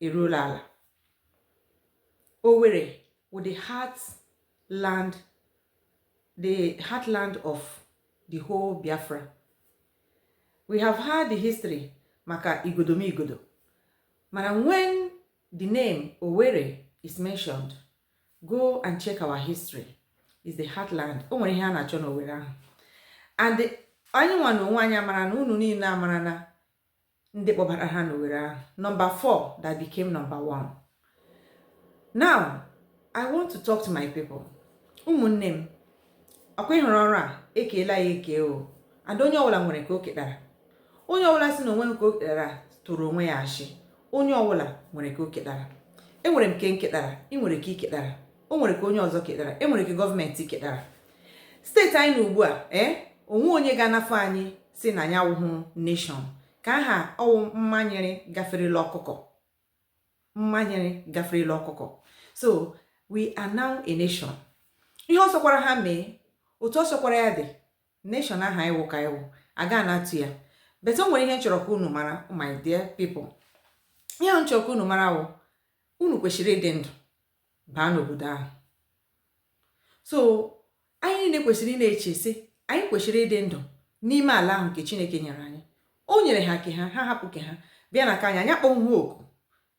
eruola ala Owerri wụ the heartland the heartland of the whole Biafra we have heard the history maka Igodomigodo mana when the name Owerri is mentioned go and check our history is the heartland o nwere ihe a na-achọ n'Owerri ahụ and anyị nwa na onwe anyị amara na unu niile amara na ndị kpọbara ha n'Owerri ahụ number 4 that became number 1 now I want to talk to my people ụmụnne m ọkwa ịhụrụ ọrụ a ekeela ya eke o and onye ọwụla nwere ka o ketara onye ọwụla si na onwe nke o ketara tụrụ onwe ya ashị onye ọwụla nwere ka o ketara enwere m nke nketara ị nwere ka iketara o nwere ka onye ọzọ ketara enwere ka gọọmenti ketara state anyị nọ ugbu a ee eh, onwe onye ga-anafụ anyị si na anyị awụhụ nation ka ahụ ọwụ mmanyere gaferela ọkụkọ mmanyere gaferela ọkụkọ so we are now a nation ihe ọ sọkwara ha mee otu ọ sọkwara ya dị nation ahụ ịwụ ka ịwụ aga na-atụ ya but o nwere ihe m chọrọ ka unu mara my dear people ihe m chọrọ ka unu mara wụ unu kwesịrị ịdị ndụ baa n'obodo ahụ so anyị niile kwesịrị ị na-eche sị anyị kwesịrị ịdị ndụ n'ime ala ahụ nke chineke nyere anyị o nyere ha ke ha ha hapụ ke ha bịa na ka anyị anya akpọ ha ọkụ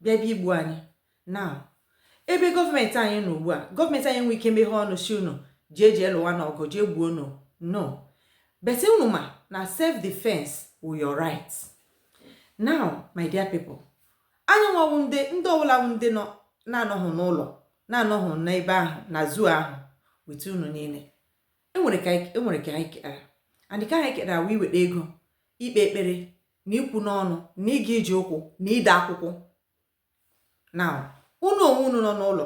bịa bịa igbu anyị now ebe gọọmenti anyị nọ ugbu a gọọmenti anyị nwee ike meghe ọnụ si unu jee jee lụwa na ọgụ jee gbuo unu no but unu ma na self defense wụ your right now my dear people Anyị nwa wụ ndị ndị ọbụla wụ ndị nọ na-anọghị n'ụlọ na-anọghị n'ebe ahụ na zoo ahụ with unu niile enwere ka enwere ka anyị ketara and ka anyị ketara wụ iweta ego ikpe ekpere na ikwu n'ọnụ na ịga ije ụkwụ na ide akwụkwọ now unu onwe unu nọ n'ụlọ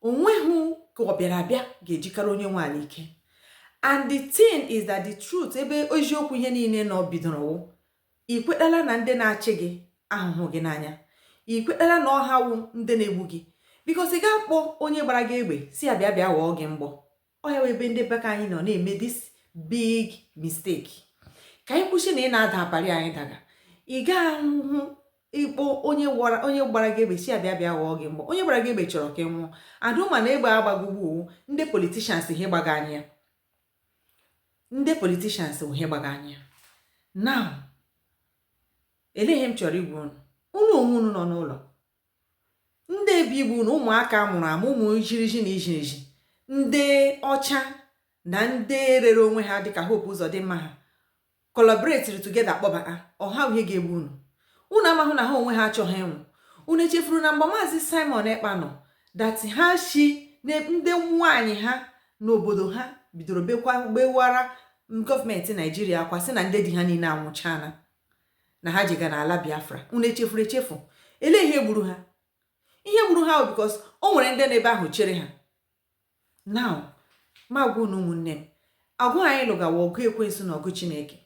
onweghị ka ọ bịara abịa ga-ejikara onye nwe ala ike and the thing is that the truth ebe eziokwu ihe niile nọ bidoro ị kwetala na ndị na-achị gị ahụhụ gị n'anya ị kwetala na ọ ha wụ ndị na-egbu gị because ị ga-akpọ onye gbara gị egbe si ya bịa bịa ghọọ gị mgbọ ọ ya ebe ndị be ka anyị nọ na-eme this big mistake ka anyị kwụsị na ị na-ada apari anyị daga ị gahụ ịkpọ onye gbara gị egbe si ya bịa bịa ghọọ gị mgbọ onye gbara gị egbe chọrọ ka ị nwụọ adụma na egbe agbagogbu ndị politicians ihe gbaga anyị ndị politicians wụ ihe gbaga anyị now lee ihe m chọrọ ịgwa unu unu onwe unu nọ n'ụlọ ndị ebe igbu na ụmụaka mụrụ amụ ụmụ ijiriji na ijiriji ndị ọcha na ndị rere onwe ha dịka Hope Ụzọdịmma ha collaboratiri together kpọbata ọha ihe ga-egbu unu unu amahụ na ha onwe ha achọghị ịnwụ unu echefuru na mgbe maazị simon ekpa nọ dati ha shi na ndị nwaanyị ha n'obodo ha bidoro bekwa bewara gọọmenti naijiria akwa sị na ndị di ha niile anwụchana na ha jega n'ala biafra unu echefuru echefu elee ihe gburu ha ihe gburu ha because o nwere ndị n'ebe ahụ chere ha now m agwa unu ụmụnne m ọgụ anyị lụga wụ ọgụ ekwensu na ọgụ chineke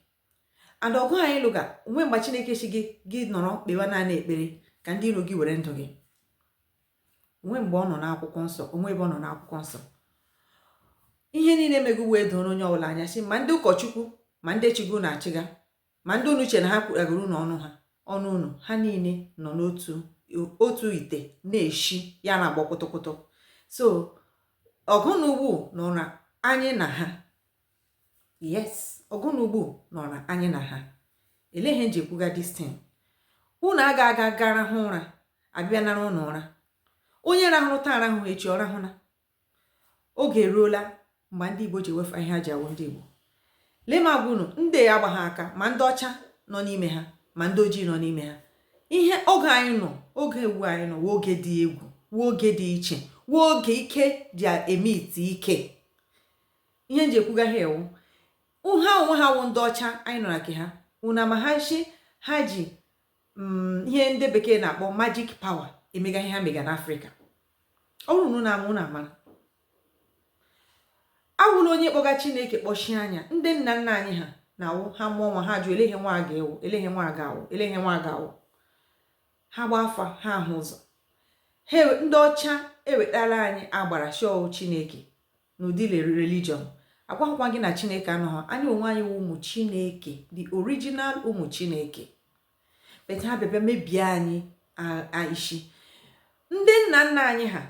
and ọgụ anyị lụga o nwe mgbe chineke sị gị gị nọrọ kpewa naanị ekpere ka ndị iro gị were ndụ gị o nwe mgbe ọ nọ n'akwụkwọ nsọ o nwe ebe ọ nọ n'akwụkwọ nsọ ihe niile mega ugbu a doro onye ọbụla anya sị ma ndị ụkọchukwu ma ndị chigo na-achịga Ma ndị unu che na ha kwughagoro unu ọnụ ha ọnụ unu ha niile nọ n'otu otu ite na-eshi ya na-agbọ kwụtụkwụtụ so ọgụ na mgba nọrọ anyị na ha yes ọgụ na mgba nọrọ anyị na ha elee ihe m ji ekwuga this thing unu aga aga ga rahụ ụra a bịa nara ụnụ ụra onye rahụrụ taa rahụ echi ọ rahụna oge eruola mgbe ndị Igbo ji ewefụ ihe ha ji awụ ndị Igbo lee m agwa unu ndị agbaghị aka ma ndị ọcha nọ n'ime ha ma ndị ojii nọ n'ime ha ihe oge anyị nọ oge a wụ anyị nọ wụ oge dị egwu wụ oge dị iche wụ oge ike ji eme ite ike ihe m ji ekwuga ihe a wụ ha onwe ha wụ ndị ọcha anyị nọ na nke ha unu amahụ nshi ha ji mm, ihe ndị bekee na-akpọ majik pawa emega ihe ha mega n'afrịka ọ bụrụ na unu ama unu amara awụla onye kpọga chineke kpọchie anya ndị nna nna anyị ha na-awụ ha mụọ nwa ha jụ ele ihe nwa a ga-ewu ele ihe nwa a ga-awụ ele ihe nwa a ga-awụ ha gba afa ha ahụ ụzọ ndị ọcha ewetara anyị agbara shọọ chineke n'ụdị religion agwaghịkwa gị na chineke anọghị anyị onwe anyị wụ ụmụ chineke the original ụmụ chineke bete ha bịa bịa mebie anyị ishi ndị nna nna anyị ha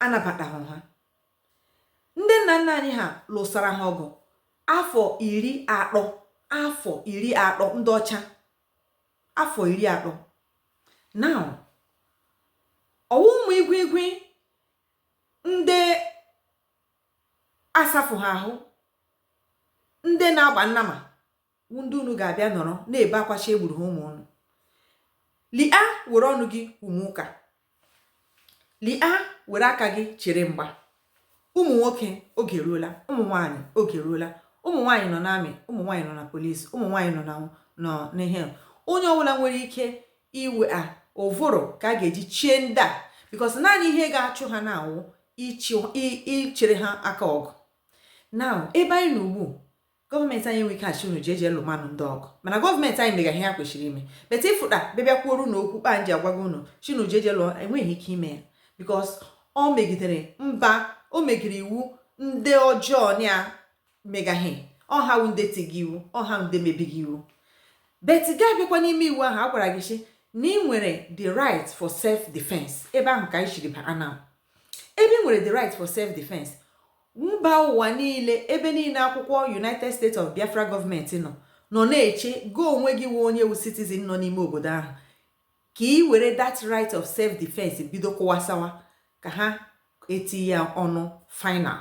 anabataghị ha ndị nna nna anyị ha lụsara ha ọgụ afọ iri atọ afọ iri atọ ndị ọcha afọ iri atọ now ọ wụ ụmụ igwu igwu ndị asafụ ha ahụ ndị na-agba nnama wụ ndị unu ga-abịa nọrọ na-ebe akwa shị e gburu ha ụmụ unu lia were ọnụ gị mee ụka lia were aka gị chere mgba ụmụ nwoke oge eruola ụmụ nwaanyị oge eruola ụmụ nwaanyị nọ n'army ụmụ nwaanyị nọ na police ụmụ nwaanyị nọ na n'ihe onye ọbụla nwere ike iwe a ụvụrụ ka a ga-eji chie ndị a because naanị ihe ga-achụ ha na-awụ ichere ha aka ọgụ na ebe anyị nọ ugbu a gọọmenti anyị enwe ike asị unu jeje lụma nụ ndị ọgụ mana gọọmenti anyị megara ihe ha kwesịrị ime but ịfụta bịa bịa kwuoru na okwu kpaa nji agwago unu sị unu jeje lụọ enweghị ike ime ya because o megidere mba o megidere iwu ndị ọjọọ na megaghị ọ ha wụ ndị tiga iwu ọ ha ndị mebiga iwu but gị abịakwa n'ime iwu ahụ a gwara gị sị na ị nwere the right for self defense ebe ahụ ka anyị shiri baa na ebe ị nwere the right for self defense mba ụwa niile ebe niile akwụkwọ United States of Biafra gọọmenti nọ nọ na-eche gị onwe gị wụ onye wụ citizen nọ n'ime obodo ahụ ka ị were that right of self defense bido kụwasawa ka ha etinye ya ọnụ final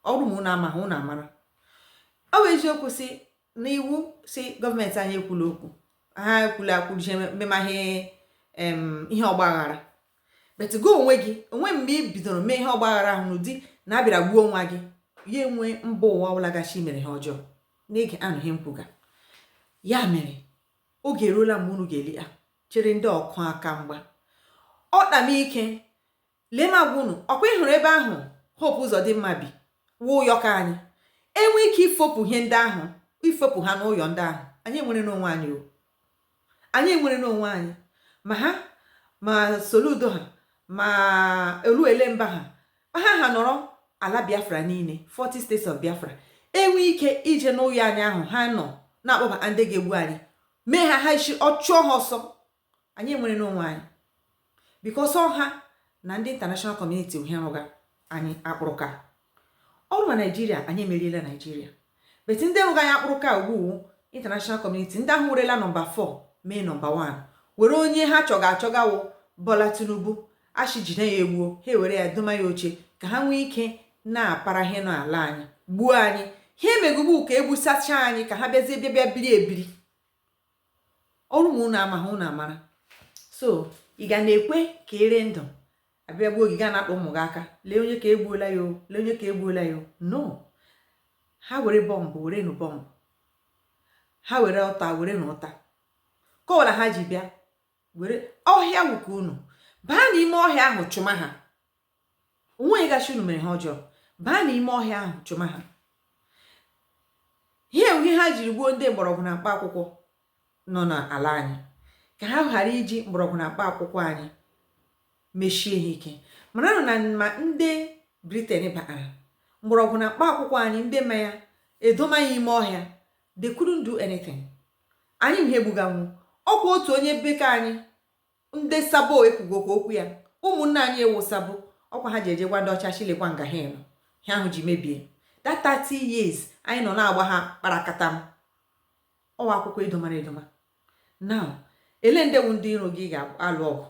ọ bụrụ ma unu amaghị unu amara ọ bụ eziokwu sị na iwu sị gọọmenti anyị ekwula okwu ha ekwula akwụjie mmemaghị ihe ọgbaghara but gị onwe gị o nwe mgbe ị bidoro mee ihe ọgbaghara ahụ n'ụdị na a bịara gbuo nwa gị ya enwe mba ụwa ọ bụla ga-asị i mere ihe ọjọọ n'ege anụ ihe m kwuga ya mere oge eruola mgbe unu ga-elia chere ndị ọkụ aka mgba ọ kpamike lee m agwa unu ọ kwa ị hụrụ ebe ahụ Hope Uzodimma bi wụ ụyọ ka anyị enwe ike ifopụ ihe ndị ahụ ifopụ ha n'ụyọ ndị ahụ anyị enwere n'onwe anyị o anyị enwere n'onwe anyị ma ha ma Soludo ha ma Oluelemba ha ha ha nọrọ ala Biafra niile 40 states of Biafra enwe ike ije n'ụyọ anyị ahụ ha nọ na-akpọbata ndị ga-egbu anyị mee ha ha isi ọ chụọ ha ọsọ anyị enwere n'onwe anyị because ọ ha na ndị international community wụ ihe rụga anyị akpụrụka ọ bụrụ na Nigeria anyị emeriela Nigeria but ndị rụga anyị akpụrụka ugbu international community ndị ahụ werela nọmba 4 mee nọmba 1 were onye ha chọga achọga wụ Bola Tinubu a shị jide ya e gbuo ha ewere ya doma ya oche ka ha nwee ike na-apara ihe n'ala anyị gbuo anyị ha emegugbu ka e gbusacha anyị ka ha bịazie bịa bịa biri ebiri ọ bụrụ ma unu amaghị unu amara so ị ga na-ekwe ka ere ndụ abịa gbuo gị gaa na-akpọ ụmụ gị aka lee onye ka egbuola ya lee onye ka egbuola ya no ha were bọmbụ were nụ bọmbụ ha were ụta were nụ ụta ka ọ wụla ha ji bịa were ọhịa wuka unu baa n'ime ọhịa ahụ chụma ha onweghị ga-asị unu mere ihe ọjọọ baa n'ime ọhịa ahụ chụma ha ihe ihe ha jiri gbuo ndị mgbọrọgwụ na mkpa akwụkwọ nọ n'ala anyị ka ha ghara iji mgbọrọgwụ na mkpa akwụkwọ anyị mesie ha ike maranụ na ma ndị briten batara mgbọrọgwụ na mkpa akwụkwọ anyị ndị ma ya edoma ya ime ọhịa they couldn't do anything anyị ihe gbuga nwo ọkwa otu onye bekee anyị ndị sabo ekwugokwa okwu ya ụmụnne anyị wụ sabo ọkwa ha ji eje gwa ndị ọcha shi lekwa nga ha nọ ha ahụ ji mebie that 30 years anyị nọ na-agba ha kparakatam ọ wụ akwụkwọ edomara edoma now ele ndị wụ ndị iro gị ga-alụ ọgụ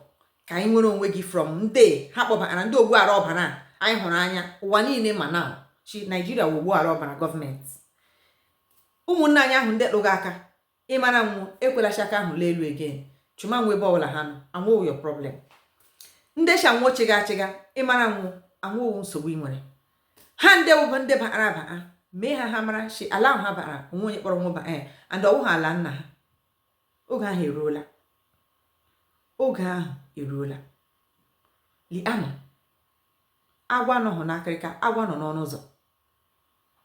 ka anyị nwere onwe gị from ndị ha kpọbara ndị ogbu ara ọbara anyị hụrụ anya ụwa niile ma na shi naijiria wụ ogbu ara ọbara gọọmenti ụmụnne anyị ahụ ndị lụga aka Ị mara nwo, ekwela shi aka ahụ lee elu again. Chụma nwo ebe ọbụla ha nọ, anwụghị your problem. Ndị shi nwo chịga achịga, ị mara nwo, anwụghị nsogbu ị nwere. Ha ndị wụbụ ndị bara aba a, mee ka ha mara shi ala ahụ ha bara o nweghị onye kpọrọ nwo bịa ee eh, and ọ wụghị ala nna ha. Oge ahụ eruola. Oge ahụ eruola. Leenụ, agwọ anọghị n'akịrịka, agwọ nọ n'ọnụ ụzọ.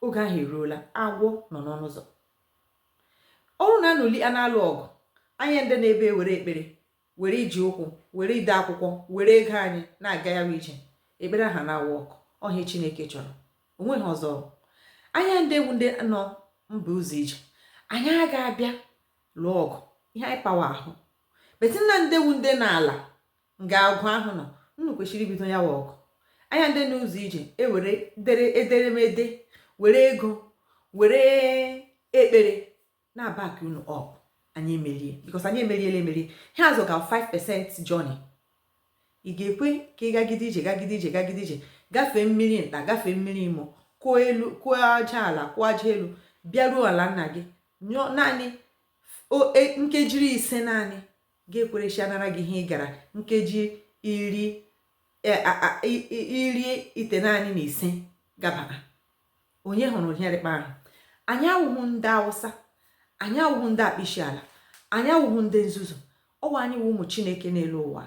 Oge ahụ eruola, agwọ nọ n'ọnụ ụzọ. Ọrụ na unu elie na-alụ ọgụ, anyị ndị nọ ebe a ewere ekpere, were ije ụkwụ, were ide akwụkwọ, were ego anyị na-aga ya wa ije. Ekpere aha na-awa ọkụ, ọ ihe Chineke chọrọ. O nweghị ọzọ. Anyị ndị wụ ndị nọ mba ụzọ ije, anyị agaghị abịa lụọ ọgụ, ihe anyị pawa ahụ. But unu ndị wụ ndị nọ n'ala nga agwọ ahụ nọ unu kwesịrị ibido ya wa ọgụ anyị ndị n'ụzọ ije ewere dere ederemede were ego were ekpere na-abaki unu up anyị emerie because anyị emeriela emerie ha azụ ka 5 percent journey ị ga-ekwe ka ị gagide ije gagide ije gagide ije gafee mmiri nta gafee mmiri imo kụọ elu kụọ aja ala kụọ aja elu bịaruo ala nna gị nyụọ naanị e, nkeji ise naanị ga-ekwere shi a nara gị ihe ị gara nkeji iri e, iri itenaanị na ise gabara onye hụrụ ihe rị kpa ahụ anyị awụghị ndị awụsa anyị awụghị ndị akpọ ishi ala anyị awụghị ndị nzuzu ọ wụ anyị wụ ụmụ chineke n'elu ụwa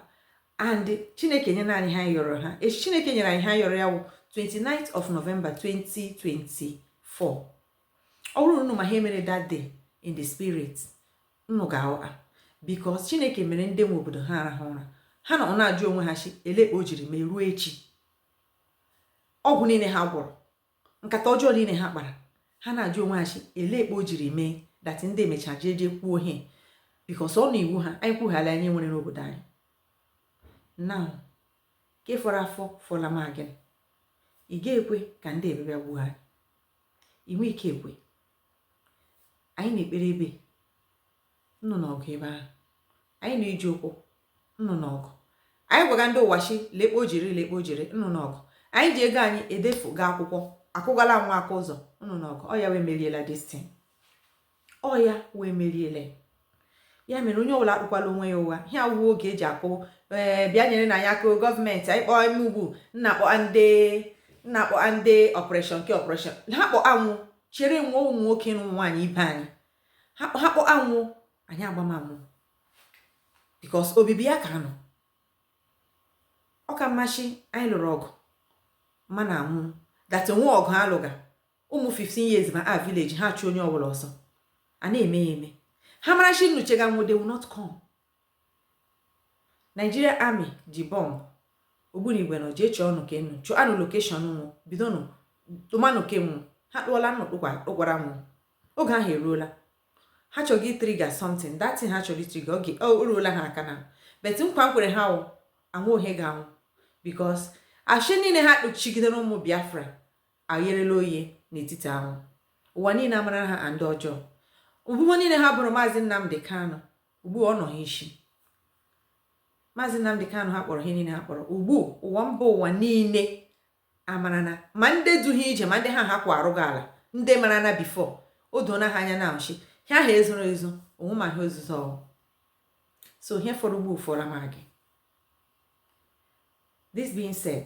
and chineke enyena anyị ihe a yọrọ ya eshi chineke nyere anyị ihe a yọrọ ya wụ 29th of November 2024 ọ bụrụ unu ma ihe e mere that day in the spirit nnụ ga-aghọta bikos Chineke mere ndị nwe obodo ha arahụ ụra ha nọ na-ajụ onwe ha shi ele ekpe o jiri mee ruo echi ọgwụ niile ha gwọrọ nkata ọjọọ niile ha kpara ha na-ajụ onwe ha shi ele ekpe o jiri mee dati ndị emecha jee jee kwuo ihe bikos ọ na iwu ha anyị kwughala anyị nwere n'obodo anyị na nke fọrọ afọ fọla ma gị ị ga-ekwe ka ndị abịabịa gbuo anyị inwe ike ekwe anyị na-ekpere ebe nnụ n'ọgụ ebe ahụ anyị na-eji ụkwụ nnụ n'ọgụ anyị gwaga ndị ụwa shi lekpe o jiri lekpe o jiri nnụ n'ọgụ anyị ji ego anyị edefuga akwụkwọ akụgala nwa aka ụzọ nnụ n'ọgụ ọ ya wee meriela destin ọ ya wee meriela ya mere onye ọbụla akpụkwala onwe ya ụgha ihe awụwa oge e ji akpọ ee eh, bịa nyerenụ anyị aka gọọmenti anyị kpọọ ime ugwu nna akpọ ndị nna akpọ ndị ọpụreshọn nke ọpụreshọn ha kpọ anwụ chere nwa ụmụ nwoke na ụmụ nwaanyị ibe anyị ha kpọ anwụ anyị agbamamụ bikos obibi ya ka nọ ọ ka mma shi anyị lụrụ ọgụ mana anwụ dat o nwe ọgụ a lụga ụmụ 15 years ma a village ha chụ onye ọbụla ọsọ a na-eme ya eme ha mara shi nnụ chega nwụ they will not come Nigeria army ji bọmbụ ogbunigwe nọ jee chọọ ọnụ ka enu chụọ anụ lokeshọn nwụ bido nụ tụmanụ ke nwụ ha kpụọla nnụ kpụkwara nwụ oge ahụ eruola ha chọrọ ịtriga something that thing ha chọrọ itriga oge o ruola ha akana bet nkwa m kwere ha wụ ọnwụ ha ga-anwụ because ashị niile ha kpuchigidere ụmụ biafra ayerela oye n'etiti anwụ ụwa niile amara ha ndị ọjọọ ebubo niile ha boro maazị Nnamdi Kanu ugbu ọ nọ ha isi maazị Nnamdi Kanu ha kpọrọ ihe niile ha kpọrọ ugbu ụwa mba ụwa niile amara na ma ndị duhie ije ma ndị ha ha kwa arụghị ala ndị mara na bifo o doona ha anya na nshị ha ha ezoro ezo onwe ma ha ozuzo ọhụụ so ihe fọrọ ugbu ọ fọrọ ma gị this being said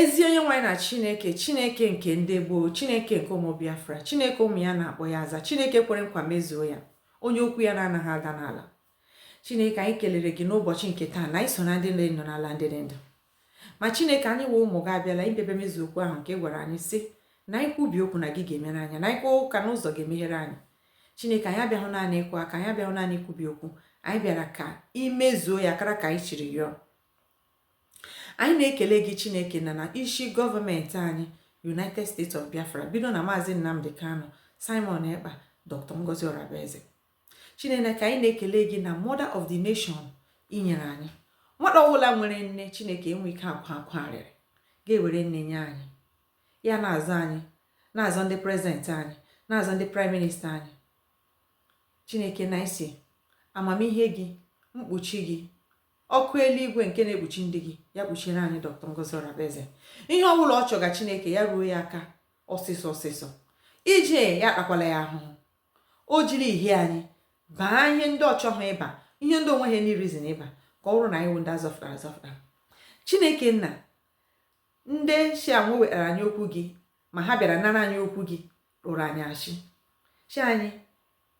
Ezi onye nwe anyị na Chineke, Chineke nke ndị gboo, Chineke nke ụmụ Biafra, Chineke ụmụ ya na-akpọ ya aza, Chineke kwere nkwa mezuo ya, onye okwu ya na-anaghị ada n'ala. Chineke anyị kelere gị n'ụbọchị nke taa na iso na ndị nọ ndụ n'ala ndị dị ndụ. Ma Chineke anyị wụ ụmụ gị abịala idebe mezu okwu ahụ nke ị gwara anyị sị na anyị kwubi okwu na gị ga-emere anyị na anyị kụọ aka na ụzọ ga-emeghere anyị. Chineke anyị abịahụ naanị ịkụ aka anyị abịahụ naanị ikwubi okwu anyị bịara ka i mezuo ya kara ka anyị shiri yọọ. Anyị na-ekele gị Chineke nna na isi gọọmenti anyị United States of Biafra bido na Maazị Nnamdi Kanu, Simon Ekpa, Dr. Ngozi Orabueze. Chineke ka anyị na-ekele gị na Mother of the Nation i nyere anyị nwata ọbụla nwere nne Chineke enwe ike akwa akwa arịrị gị ewere nne nye anyị ya na-azọ anyị na-azọ ndị prezidenti anyị na-azọ ndị praịm minista anyị Chineke na-asị amamihe gị mkpuchi gị ọkụ eluigwe nke na-ekpuchi ndị gị ya kpuchiere anyị dr ngozi orabueze ihe ọ bụla ọ chọga chineke ya ruo ya aka ọsịsọ ọsịsọ ije ya akpakwala ya ahụhụ o jiri ihi anyị baa ihe ndị ọ chọghị ịba ihe ndị o nweghị any reason ịba ka ọ bụrụ na anyị wụ ndị a zọfụtara azọfụta chineke nna ndị shi anwụ wetara anyị okwu gị ma ha bịara nara anyị okwu gị rọọrọ anyị ashị shị anyị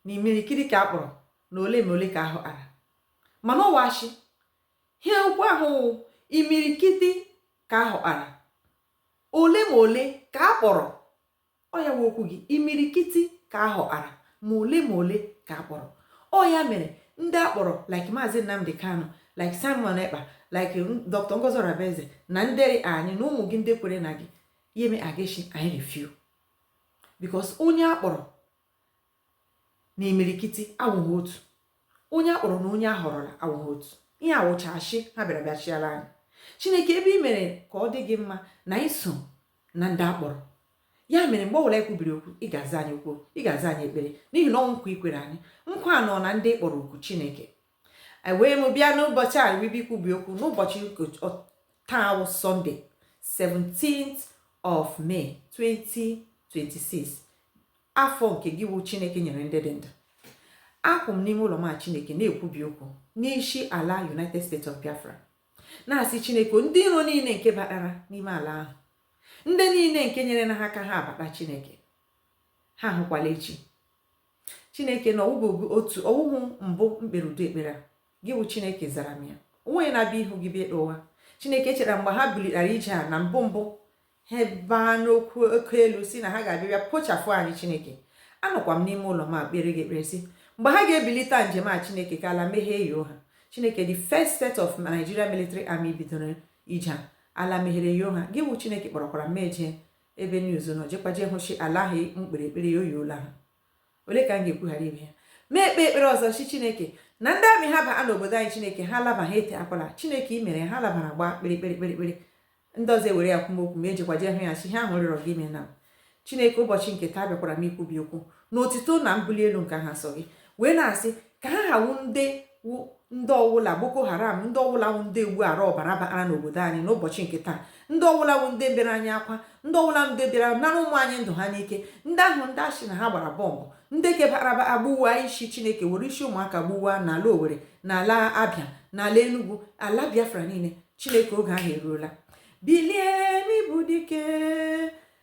na imirikiti ka a kpọrọ ma ole ma ole ka a họpụtara mana ọ wụ ashị ihe okwu ahụ wụ imirikiti ka a họpụtara ole ma ole ka a kpọrọ ọ ya wụ okwu gị imirikiti ka a họpụtara ma ole ma ole ka a kpọrọ ọ ya mere ndị a kpọrọ like maazị Nnamdi Kanu like Simon Ekpa like Dr. Ngozi Orabueze na ndị anyị na ụmụ gị ndị kwere na gị ya eme a ga-eshi anyị ri few because onye a kpọrọ na imirikiti awụghị otu onye a kpọrọ na onye a họrọla awụghị otu ihe a wụcha ashị ha bịara bịa shịara anyị chineke ebe i mere ka ọ dị gị mma na anyị so na ndị a kpọrọ ya mere mgbe ọbụla anyị kwubiri okwu ị ga-aza anyị okwu ị ga-aza anyị ekpere n'ihi na ọ wụ nkwa i kwere anyị nkwa a nọ na ndị ị kpọrọ oku chineke wee m bịa n'ụbọchị a ribe ikwubi okwu n'ụbọchị taa wụ Sunday 17th of May 2026 afọ nke gị wụ Chineke nyere ndị dị ndụ akwụ m n'ime ụlọ m a Chineke na-ekwubi okwu n'isi ala United States of Biafra na-asị Chineke ndị iro niile nke batara n'ime ala ahụ ndị niile nke nyeere ha aka ha abata Chineke ha ahụkwala echi chineke na ọ wụghị otu ọ wụhụ mbụ m kpere ụdị ekpere a gị bụ chineke zara m ya o nweghị na-abịa ihu gị bịa ekpe ụwa chineke cheta mgbe ha bilitara ije a na mbụ mbụ ha baa n'okwu oke elu sị na ha ga-abịa pochafụ anyị chineke anọkwa m n'ime ụlọ m a kpere gị ekpere sị mgbe ha ga-ebilite njem a chineke ka ala meghee yoo ha chineke the first set of Nigeria military army bidoro ije a ala meghere yoo ha gị bụ chineke kpọrọkwara m eje ebe news nọ jekwa jee hụ shị ala ahụ m kpere ekpere ya eyoola ha ole ka m ga-ekwu ghara ibe ya mụ ekpe ekpere ọzọ shị chineke na ndị army ha baa n'obodo anyị chineke ha laba ha etetakwala chineke i mere ha labara gbaa kpere kpere kpere kpere ndị ọzọ e were ya kwuo m okwu mụ ejekwa jee hụ ya shị ihe ahụ m rịọrọ gị i meela chineke ụbọchị nke taa abịakwara m ikwubi okwu na otito na mbuli elu nke aha nsọ gị wee na-asị ka ha hawu ndị wụ ndị ọwụla boko haram ndị ọwụla wụ ndị egbu ara ọbara bara n'obodo anyị n'ụbọchị nke taa ndị ọwụla wụ ndị bịara anyị agha ndị ọwụla ndị bịara nara ụmụ anyị ndụ ha n'ike ndị ahụ ndị a sị na ha gbara bọmbụ ndị kebaraba agbụwa isi chineke were isi ụmụaka gbuwa n'ala owere n'ala abịa n'ala enugwu ala biafra niile chineke oge ahụ eruola bilie n'ịbụ dike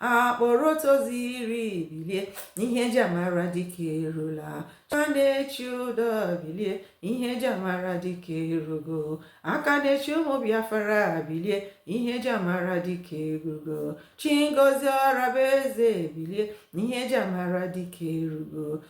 akpọrọ otu ozi iri bilie ihe eji amara dike erula aka na-echi ụdọ bilie ihe eji amara dike erugo aka na-echi ụmụ biafra bilie ihe eji amara dike erugo chi ngozi orabueze bilie ihe eji amara dike erugo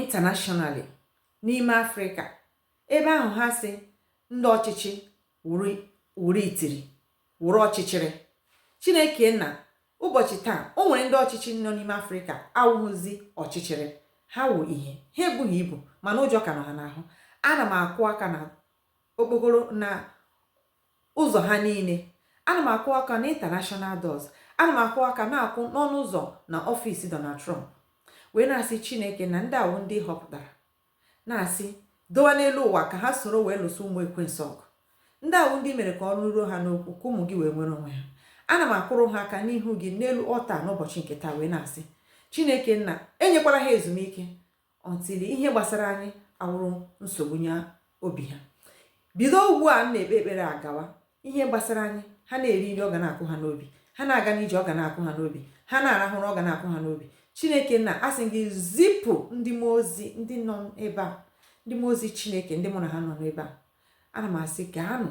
internationally n'ime afrịka ebe ahụ ha sị ndị ọchịchị wụrụ itiri wụrụ ọchịchịrị chineke nna ụbọchị taa o nwere ndị ọchịchị nọ n'ime afrịka awụghịzi ọchịchịrị ha wụ ihe ha ebughị ibu mana ụjọ ka nọ ha n'ahụ ana m akụ aka na okpokoro na ụzọ ha niile. Ana m akụ aka n'International Doors. Ana m akụ aka na-akụ n'ọnụ ụzọ na ọfịs Donald Trump wee na-asị Chineke nna ndị a wụ ndị ị họpụtara na-asị dowa n'elu ụwa ka ha soro wee lụso ụmụ ekwensu ọgụ ndị a wụ ndị i mere ka ọnụ ruo ha n'okwu ka ụmụ gị wee nwere onwe ha ana m akụrụ ha aka n'ihu gị n'elu altar n'ụbọchị nke taa wee na-asị chineke nna enyekwala ha ezumike until ihe gbasara anyị awụrụ nsogbu nye obi ha bido ugbu a m na-ekpe ekpere agawa ihe gbasara anyị ha na-eri nri ọ ga na-akụ ha n'obi ha na-aga n'ije ọ ga na-akụ ha n'obi ha na-arahụ ụra ọ ga na-akụ ha n'obi chineke nna asị gị zipụ ndị mmụọ ozi ndị nọ ebe a ndị mmụọ ozi chineke ndị mụ na ha nọ n'ebe a ana m asị ka anụ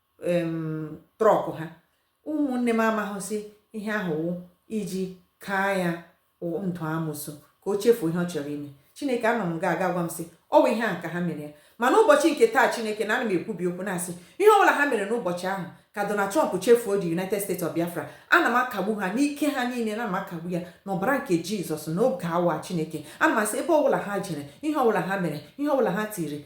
trọk ha ụmụnne m amaghịsị ihe ahụ wụ iji kaa ya ndụ amụsụ ka o chefuo ihe ọ chọrọ ime chineke anọ m ga-aga gwa m sị ọ bụ ihe a ka ha mere ya ma n'ụbọchị nke taa chineke nna ana m ekwubi okwu na-asị ihe ọ bụla ha mere n'ụbọchị ahụ ka Donald Trump chefuo the United States of Biafra ana m akagbu ha n'ike ha niile ana m akagbu ya n'ọbara nke Jizọs n'oge a wa Chineke ana m asị ebe ọbụla ha jere ihe ọbụla ha mere ihe ọbụla ha tiri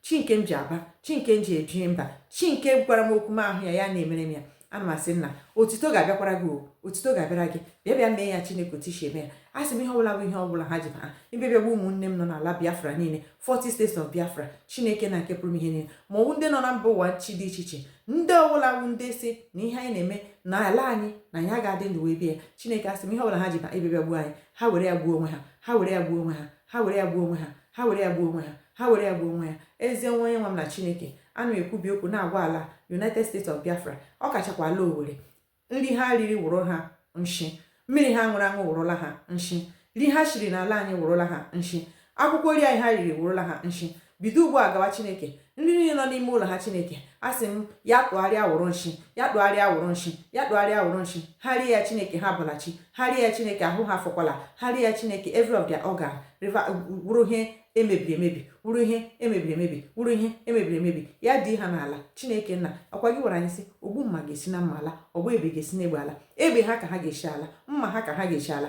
chi nke m ji aba chi nke m ji ebi mba chi nke gwara m okwu m ahụ ya ya na-emere m ya ana m asị nna otito ga-abịakwara gị o otito ga-abịara gị bịa bịa mee ya chineke otu i si eme ya a sị m ihe ọbụla bụ ihe ọbụla ha ji ha ebe bịa gbuo ụmụnne m nọ n'ala biafra niile 40 states of biafra chineke nna nke pụrụ ime ihe niile ma ọwụ ndị nọ na mba ụwa chi dị iche iche ndị ọbụla bụ ndị sị na ihe anyị na-eme na ala anyị na anyị ga-adị ndụ wee bịa ya chineke asị m ihe ọbụla ha ji ba ebe bịa gbuo anyị ha were ya gbuo onwe ha ha were ya gbuo onwe ha ha were ya gbuo onwe ha ha were ya gbuo onwe ha ha were ya gbuo onwe ya ezi onye nwe m na chineke ana m ekwubi okwu na-agwa ala united states of biafra ọ kachakwa ala owere nri ha riri wụrụ ha nshi mmiri ha ṅụrụ aṅụ wụrụla ha nshi nri ha shiri n'ala anyị wụrụla ha nshi akwụkwọ nri anyị ha riri wụrụla ha nshi bido ugbu a gawa chineke nri niile nọ n'ime ụlọ ha chineke asị m ya tụgharịa wụrụ nshi ya tụgharịa wụrụ nshi ya tụgharịa wụrụ nshi ha rie ya chineke ha bọla chi ha rie ya chineke ahụ ha fọkwala ha rie ya chineke every of their organ liver wụrụ ihe emebiri emebi wụrụ ihe emebiri emebi wụrụ ihe emebiri emebi ya dị ha n'ala chineke nna ọkwa gị gwara anyị sị ogbu mma ga-esi na mma ala ọgba egbe ga-esi n'egbe ala egbe ha ka ha ga-esi ala mma ha ka ha ga-esi ala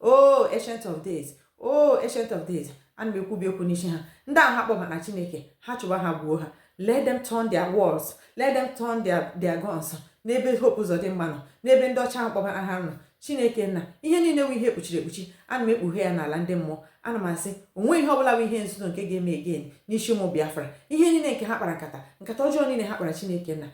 oh ancient of days oh ancient of days ana m ekwubi okwu n'isi ha ndị ahụ ha kpọbara chineke ha chụwa ha gbuo ha let them turn their swords let them turn their their guns n'ebe hope uzodimma nọ n'ebe ndị ọcha ahụ kpọbara ha nọ chineke nna ihe niile wụ ihe ekpuchiri ekpuchi ana m ekpughe ya n'ala ndị mmụọ ana m asị onwe ihe ọbụla bụ ihe nzuzo nke ga-eme again n'isi ụmụ biafra ihe niile nke ha kpara nkata nkata ọjọọ niile ha kpara chineke nna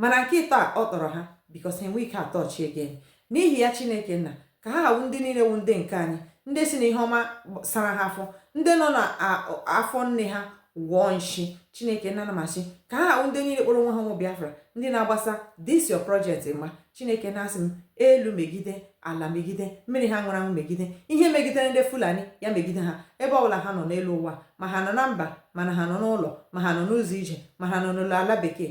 mana nke ịtọ a ọ tọrọ ha because ha enwe ike atọ chi again n'ihi ya chineke nna ka ha ha wụ ndị niile wụ ndị nke anyị ndị sị na ihe ọma sara ha afọ ndị nọ na afọ nne ha gwọọ nshi chineke nna ana m asị ka ha ha wụ ndị niile kpọrọ onwe ha ụmụ biafra ndị na-agbasa this your project ma chineke nna asị m elu megide ala megide mmiri ha ṅụrụ aṅụ megide ihe megidere ndị fulani ya megide ha ebe ọbụla ha nọ n'elu ụwa ma ha nọ na mba mana ha nọ n'ụlọ ma ha nọ n'ụzọ ije ma ha nọ n'ụlọ ala bekee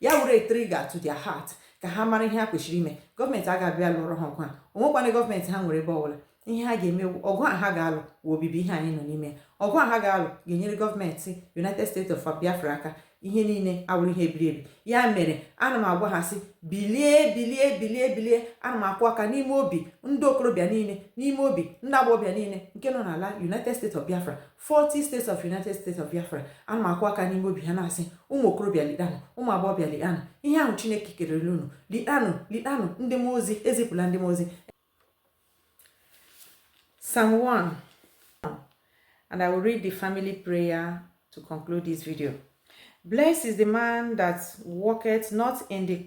ya were trigger to their heart ka ha mara ihe ha kwesịrị ime gọọmenti a ga-abịa lụrụ ha ọgụ a onwekwana gọọmenti ha nwere ebe ọbụla ihe ha ga-eme ọgụ a ha ga-alụ wụ obibi ihe anyị nọ n'ime ọgụ a ha ga-alụ ga-enyere gọọmenti United States of Biafra aka ihe niile awụrụ ihe ebiri ebi ya mere ana m agwa ha sị bilie bilie bilie bilie ana m akụ aka n'ime obi ndị okorobịa niile n'ime obi ndị agbọghọbịa niile nke nọ n'ala United States of Biafra 40 states of united states of biafra ana m akụ aka n'ime obi ha na-asị ụmụ okorobịa litanụ ụmụ agbọghọbịa litanụ ihe ahụ chineke kerere unu litanụ litanụ ndị mmụọ ozi ezipụla ndị mmụọ ozi Psalm 1 and I will read the family prayer to conclude this video. Blessed is the man that walketh not in the